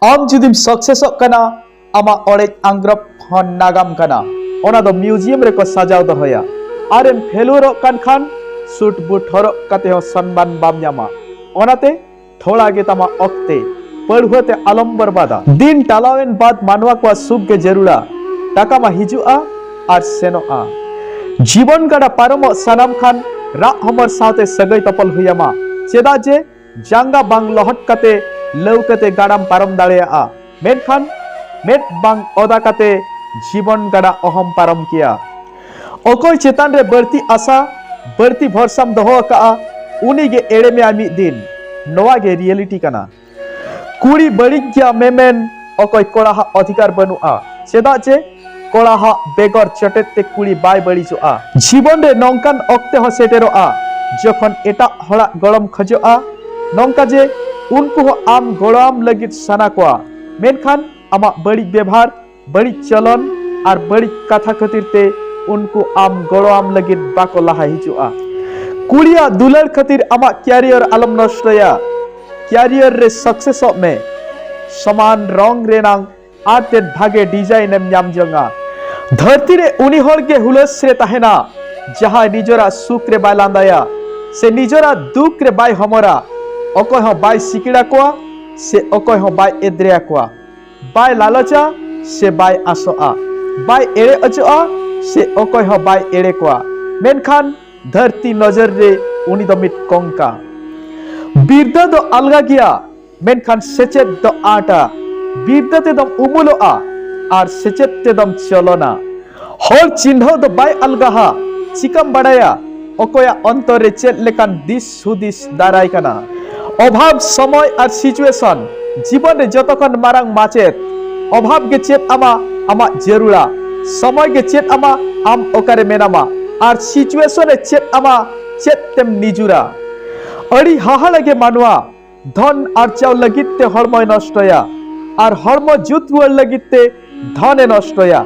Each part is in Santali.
ᱟᱢ ᱡᱩᱫᱤᱢ ᱥᱟᱠᱥᱮᱥᱚᱜ ᱠᱟᱱᱟ ᱟᱢᱟᱜ ᱚᱲᱮᱡ ᱟᱝᱜᱽᱨᱚᱵ ᱦᱚᱸ ᱱᱟᱜᱟᱢ ᱠᱟᱱᱟ ᱚᱱᱟ ᱫᱚ ᱢᱤᱣᱡᱤᱭᱟᱢ ᱨᱮᱠᱚ ᱥᱟᱡᱟᱣ ᱫᱚᱦᱚᱭᱟ ᱟᱨᱮᱢ ᱯᱷᱮᱞᱩᱣᱟᱨᱚᱜ ᱠᱟᱱ ᱠᱷᱟᱱ ᱥᱩᱴ ᱵᱩᱴ ᱦᱚᱨᱚᱜ ᱠᱟᱛᱮ ᱦᱚᱸ ᱥᱚᱱᱢᱟᱱ ᱵᱟᱢ ᱧᱟᱢᱟ ᱚᱱᱟᱛᱮ ᱛᱷᱚᱲᱟ ᱜᱮ ᱛᱟᱢᱟ ᱚᱠᱛᱮ ᱯᱟᱹᱲᱦᱩᱣᱟᱹ ᱛᱮ ᱟᱞᱚᱢ ᱵᱚᱨᱵᱟᱫᱟ ᱫᱤᱱ ᱴᱟᱞᱟᱣᱮᱱ ᱵᱟᱫ ᱢᱟᱱᱣᱟ ᱠᱚᱣᱟᱜ ᱥᱩᱠ ᱜᱮ ᱡᱟᱹᱨᱩᱲᱟ ᱴᱟᱠᱟ ᱢᱟ ᱦᱤᱡᱩᱜᱼᱟ ᱟᱨ ᱥᱮᱱᱚᱜᱼᱟ ᱡᱤᱵᱚᱱ ᱜᱟᱰᱟ ᱯᱟᱨᱚᱢᱚᱜ ᱥᱟᱱᱟᱢ ᱠᱷᱟᱱ ᱨᱟᱜ ᱦᱚᱢᱚᱨ ᱥᱟᱶᱛᱮ ᱥᱟᱹᱜᱟᱹᱭ ᱛᱚᱯᱚᱞ ᱦᱩᱭᱟᱢᱟ ᱪᱮᱫᱟᱜ ᱡᱮ ᱡᱟᱸᱜᱟ ᱵᱟᱝ ᱞᱚᱦᱚᱫ ᱠᱟᱛᱮ ᱞᱟᱹᱣᱠᱟᱹᱛᱮ ᱜᱟᱰᱟᱢ ᱯᱟᱨᱚᱢ ᱫᱟᱲᱮᱭᱟᱜᱼᱟ ᱢᱮᱱᱠᱷᱟᱱ ᱢᱮᱫ ᱵᱟᱝ ᱚᱫᱟ ᱠᱟᱛᱮ ᱡᱤᱵᱚᱱ ᱜᱟᱰᱟ ᱚᱦᱚᱢ ᱯᱟᱨᱚᱢ ᱠᱮᱭᱟ ᱚᱠᱚᱭ ᱪᱮᱛᱟᱱ ᱨᱮ ᱵᱟᱹᱲᱛᱤ ᱟᱥᱟ ᱵᱟᱹᱲᱛᱤ ᱵᱷᱚᱨᱥᱟᱢ ᱫᱚᱦᱚ ᱟᱠᱟᱜᱼᱟ ᱩᱱᱤ ᱜᱮ ᱮᱲᱮ ᱢᱮᱭᱟ ᱢᱤᱫ ᱫᱤᱱ ᱱᱚᱣᱟ ᱜᱮ ᱨᱤᱭᱮᱞᱤᱴᱤ ᱠᱟᱱᱟ ᱠᱩᱲᱤ ᱵᱟᱹᱲᱤᱡ ᱜᱮᱭᱟ ᱢᱮᱢᱮᱱ ᱚᱠᱚᱭ ᱠᱚᱲᱟ ᱦᱟᱜ ᱚᱫᱷᱤᱠᱟᱨ ᱵᱟᱹᱱᱩᱜᱼᱟ ᱪᱮᱫᱟᱜ ᱡᱮ ᱠᱚᱲᱟ ᱦᱟᱜ ᱵᱮᱜᱚᱨ ᱪᱚᱴᱮᱫ ᱛᱮ ᱠᱩᱲᱤ ᱵᱟᱭ ᱵᱟᱹᱲᱤᱡᱚᱜᱼᱟ ᱡᱤᱵᱚᱱ ᱨᱮ ᱱᱚᱝᱠᱟᱱ ᱚᱠᱛᱮ ᱦᱚᱸ ᱥᱮᱴᱮᱨᱚᱜᱼᱟ ᱡᱚᱠᱷᱚᱱ ᱮᱴᱟᱜ ᱦᱚᱲᱟᱜ ᱜᱚᱲᱚᱢ ᱠᱷᱚᱡᱚᱜᱼᱟ ᱱᱚᱝᱠᱟ ᱡᱮ ᱩᱱᱠᱩ ᱦᱚᱸ ᱟᱢ ᱜᱚᱲᱚᱣᱟᱢ ᱞᱟᱹᱜᱤᱫ ᱥᱟᱱᱟ ᱠᱚᱣᱟ ᱢᱮᱱᱠᱷᱟᱱ ᱟᱢᱟᱜ ᱵᱟᱹᱲᱤᱡ ᱵᱮᱵᱷᱟᱨ ᱵᱟᱹᱲᱤᱡ ᱪᱚᱞᱚᱱ ᱟᱨ ᱵᱟᱹᱲᱤᱡ ᱠᱟᱛᱷᱟ ᱠᱷᱟᱹᱛᱤᱨ ᱛᱮ ᱩᱱᱠᱩ ᱟᱢ ᱜᱚᱲᱚᱣᱟᱢ ᱞᱟᱹᱜᱤᱫ ᱵᱟᱠᱚ ᱞᱟᱦᱟ ᱦᱤᱡᱩᱜᱼᱟ ᱠᱩᱲᱤᱭᱟᱜ ᱫᱩᱞᱟᱹᱲ ᱠᱷᱟᱹᱛᱤᱨ ᱟᱢᱟᱜ ᱠᱮᱨᱤᱭᱚᱨ ᱟᱞᱚᱢ ᱱᱚᱥᱴᱚᱭᱟ ᱠᱮᱨᱤᱭᱚᱨ ᱨᱮ ᱥᱟᱠᱥᱮᱥᱚᱜ ᱢᱮ ᱥᱚᱢᱟᱱ ᱨᱚᱝ ᱨᱮᱱᱟᱝ ᱟᱨ ᱛᱮᱫ ᱵᱷᱟᱜᱮ ᱰᱤᱡᱟᱭᱤᱱ ᱮᱢ ᱧᱟᱢ ᱡᱚᱝᱟ ᱫᱷᱟᱹᱨᱛᱤ ᱨᱮ ᱩᱱᱤ ᱦᱚᱲ ᱜᱮ ᱦᱩᱞᱟᱹᱥ ᱨᱮ ᱛᱟᱦᱮᱱᱟ ᱡᱟᱦᱟᱸᱭ ᱱᱤᱡᱚᱨᱟᱜ ᱥᱩᱠ ᱨᱮ ᱵᱟᱭ ᱞᱟᱸᱫᱟᱭᱟ ᱥᱮ ᱱᱤᱡᱚᱨᱟᱜ ᱫᱩᱠ ᱨᱮ ᱵᱟᱭ ᱦᱚᱢᱚᱨᱟ ᱚᱠᱚᱭ ᱦᱚᱸ ᱵᱟᱭ ᱥᱤᱠᱤᱲᱟ ᱠᱚᱣᱟ ᱥᱮ ᱚᱠᱚᱭ ᱦᱚᱸ ᱵᱟᱭ ᱮᱫᱽᱨᱮᱭᱟ ᱠᱚᱣᱟ ᱵᱟᱭ ᱞᱟᱞᱚᱪᱟ ᱥᱮ ᱵᱟᱭ ᱟᱥᱚᱜᱼᱟ ᱵᱟᱭ ᱮᱲᱮ ᱚᱪᱚᱜᱼᱟ ᱥᱮ ᱚᱠᱚᱭ ᱦᱚᱸ ᱵᱟᱭ ᱮᱲᱮ ᱠᱚᱣᱟ ᱢᱮᱱᱠᱷᱟᱱ ᱫᱷᱟᱹᱨᱛᱤ ᱱᱚᱡᱚᱨ ᱨᱮ ᱩᱱᱤ ᱫᱚ ᱢᱤᱫ ᱠᱚᱝᱠᱟ ᱵᱤᱨᱫᱟᱹ ᱫᱚ ᱟᱞᱜᱟ ᱜᱮᱭᱟ ᱢᱮᱱᱠᱷᱟᱱ ᱥᱮᱪᱮᱫ ᱫᱚ ᱟᱴᱟ ᱵᱤᱨᱫᱟᱹ ᱛᱮᱫᱚᱢ ᱩᱢᱩᱞᱚᱜᱼᱟ ᱟᱨ ᱥᱮᱪᱮᱫ ᱛᱮᱫᱚᱢ ᱪᱚᱞᱚᱱᱟ ᱦᱚᱲ ᱪᱤᱱᱦᱟᱹᱣ ᱫᱚ ᱵᱟᱭ ᱟᱞᱜᱟᱦᱟ ᱪᱤᱠᱟᱢ ᱵᱟᱲᱟᱭᱟ ᱚᱠᱚᱭᱟᱜ ᱚᱱᱛᱚᱨ ᱨᱮ ᱪᱮᱫ ᱞᱮᱠᱟᱱ ᱫᱤᱥ ᱦᱩᱫᱤᱥ ᱫᱟᱨᱟᱭ ᱠᱟᱱᱟ ᱚᱵᱷᱟᱵ ᱥᱚᱢᱚᱭ ᱟᱨ ᱥᱤᱪᱩᱭᱮᱥᱚᱱ ᱡᱤᱵᱚᱱ ᱨᱮ ᱡᱚᱛᱚ ᱠᱷᱚᱱ ᱢᱟᱨᱟᱝ ᱢᱟᱪᱮᱫ ᱚᱵᱷᱟᱵ ᱜᱮ ᱪᱮᱫ ᱟᱢᱟ ᱟᱢᱟᱜ ᱡᱟᱹᱨᱩᱲᱟ ᱥᱚᱢᱚᱭ ᱜᱮ ᱪᱮᱫ ᱟᱢᱟ ᱟᱢ ᱚᱠᱟᱨᱮ ᱢᱮᱱᱟᱢᱟ ᱟᱨ ᱥᱤᱪᱩᱭᱮᱥᱚᱱ ᱮ ᱪᱮᱫ ᱟᱢᱟ ᱪᱮᱫ ᱛᱮᱢ ᱱᱤᱡᱩᱨᱟ ᱟᱹᱰᱤ ᱦᱟᱦᱟᱲᱟ ᱜᱮ ᱢᱟᱱᱣᱟ ᱫᱷᱚᱱ ᱟᱨᱪᱟᱣ ᱞᱟᱹᱜᱤᱫ ᱛᱮ ᱦᱚᱲᱢᱚᱭ ᱱᱚᱥᱴᱚᱭᱟ ᱟᱨ ᱦᱚᱲᱢᱚ ᱡᱩᱛ ᱨᱩᱣᱟᱹᱲ ᱞᱟᱹᱜᱤᱫ ᱛᱮ ᱫᱷᱚᱱᱮ ᱱᱚᱥᱴᱚᱭᱟ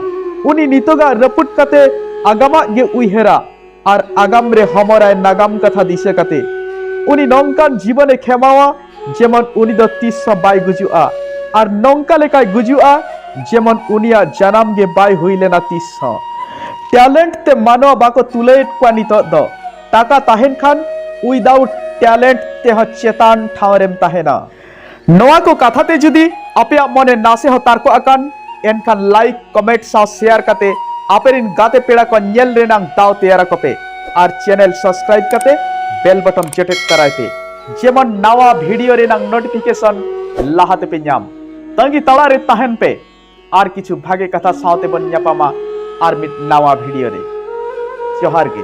ᱩᱱᱤ ᱱᱤᱛᱚᱜᱟᱜ ᱨᱟᱹᱯᱩᱫ ᱠᱟᱛᱮ ᱟᱜᱟᱢᱟᱜ ᱜᱮ ᱩᱭᱦᱟᱹᱨᱟ ᱟᱨ ᱟᱜᱟᱢ ᱨᱮ ᱦᱚᱢᱚᱨᱟᱭ ᱱᱟᱜᱟᱢ ᱠᱟᱛᱷᱟ ᱫᱤᱥᱟᱹ ᱠᱟᱛᱮ ᱩᱱᱤ ᱱᱚᱝᱠᱟᱱ ᱡᱤᱵᱚᱱᱮ ᱠᱷᱮᱢᱟᱣᱟ ᱡᱮᱢᱚᱱ ᱩᱱᱤ ᱫᱚ ᱛᱤᱥ ᱦᱚᱸ ᱵᱟᱭ ᱜᱩᱡᱩᱜᱼᱟ ᱟᱨ ᱱᱚᱝᱠᱟ ᱞᱮᱠᱟᱭ ᱜᱩᱡᱩᱜᱼᱟ ᱡᱮᱢᱚᱱ ᱩᱱᱤᱭᱟᱜ ᱡᱟᱱᱟᱢ ᱜᱮ ᱵᱟᱭ ᱦᱩᱭ ᱞᱮᱱᱟ ᱛᱤᱥ ᱦᱚᱸ ᱴᱮᱞᱮᱱᱴ ᱛᱮ ᱢᱟᱱᱣᱟ ᱵᱟᱠᱚ ᱛᱩᱞᱟᱹᱭᱮᱫ ᱠᱚᱣᱟ ᱱᱤᱛᱚᱜ ᱫᱚ ᱴᱟᱠᱟ ᱛᱟᱦᱮᱱ ᱠᱷᱟᱱ ᱩᱭᱫᱟᱣᱩᱴ ᱴᱮᱞᱮᱱᱴ ᱛᱮᱦᱚᱸ ᱪᱮᱛᱟᱱ ᱴᱷᱟᱶ ᱨᱮᱢ ᱛᱟᱦᱮᱱᱟ ᱱᱚᱣᱟ ᱠᱚ ᱠᱟᱛᱷᱟ ᱛᱮ ᱡᱩᱫᱤ ᱟᱯᱮᱭᱟᱜ ᱢᱚᱱᱮ ᱱᱟᱥᱮ ᱦᱚᱸ ᱛᱟᱨᱠᱚ ᱟᱠᱟᱱ ᱮᱱᱠᱷᱟᱱ ᱞᱟᱭᱤᱠ ᱠᱚᱢᱮᱱᱴ ᱥᱟᱶ ᱥᱮᱭᱟᱨ ᱠᱟᱛᱮ ᱟᱯᱮᱨᱤᱱ ᱜᱟᱛᱮ ᱯᱮᱲᱟ ᱠᱚ ᱧᱮᱞ ᱨᱮᱱᱟᱝ ᱫᱟᱣ ᱛᱮᱭᱟᱨ ᱟᱠᱚ ᱯᱮ ᱟᱨ ᱪᱮᱱᱮᱞ ᱥᱟᱵᱥᱠᱨᱟᱭᱤᱵ ᱠᱟᱛᱮ ᱵᱮᱞ ᱵᱚᱴᱚᱢ ᱡᱮᱴᱮᱫ ᱛᱟᱨᱟᱭ ᱯᱮ ᱡᱮᱢᱚᱱ ᱱᱟᱣᱟ ᱵᱷᱤᱰᱤᱭᱳ ᱨᱮᱱᱟᱝ ᱱᱳᱴᱤᱯᱷᱤᱠᱮᱥᱚᱱ ᱞᱟᱦᱟ ᱛᱮᱯᱮ ᱧᱟᱢ ᱛᱟᱺᱜᱤ ᱛᱟᱲᱟ ᱨᱮ ᱛᱟᱦᱮᱱ ᱯᱮ ᱟᱨ ᱠᱤᱪᱷᱩ ᱵᱷᱟᱜᱮ ᱠᱟᱛᱷᱟ ᱥᱟᱶᱛᱮ ᱵᱚᱱ ᱧᱟᱯᱟᱢᱟ ᱟᱨ ᱢᱤᱫ ᱱᱟᱣᱟ ᱵᱷᱤᱰᱤᱭᱳ ᱨᱮ ᱡᱚᱦᱟᱨ ᱜᱮ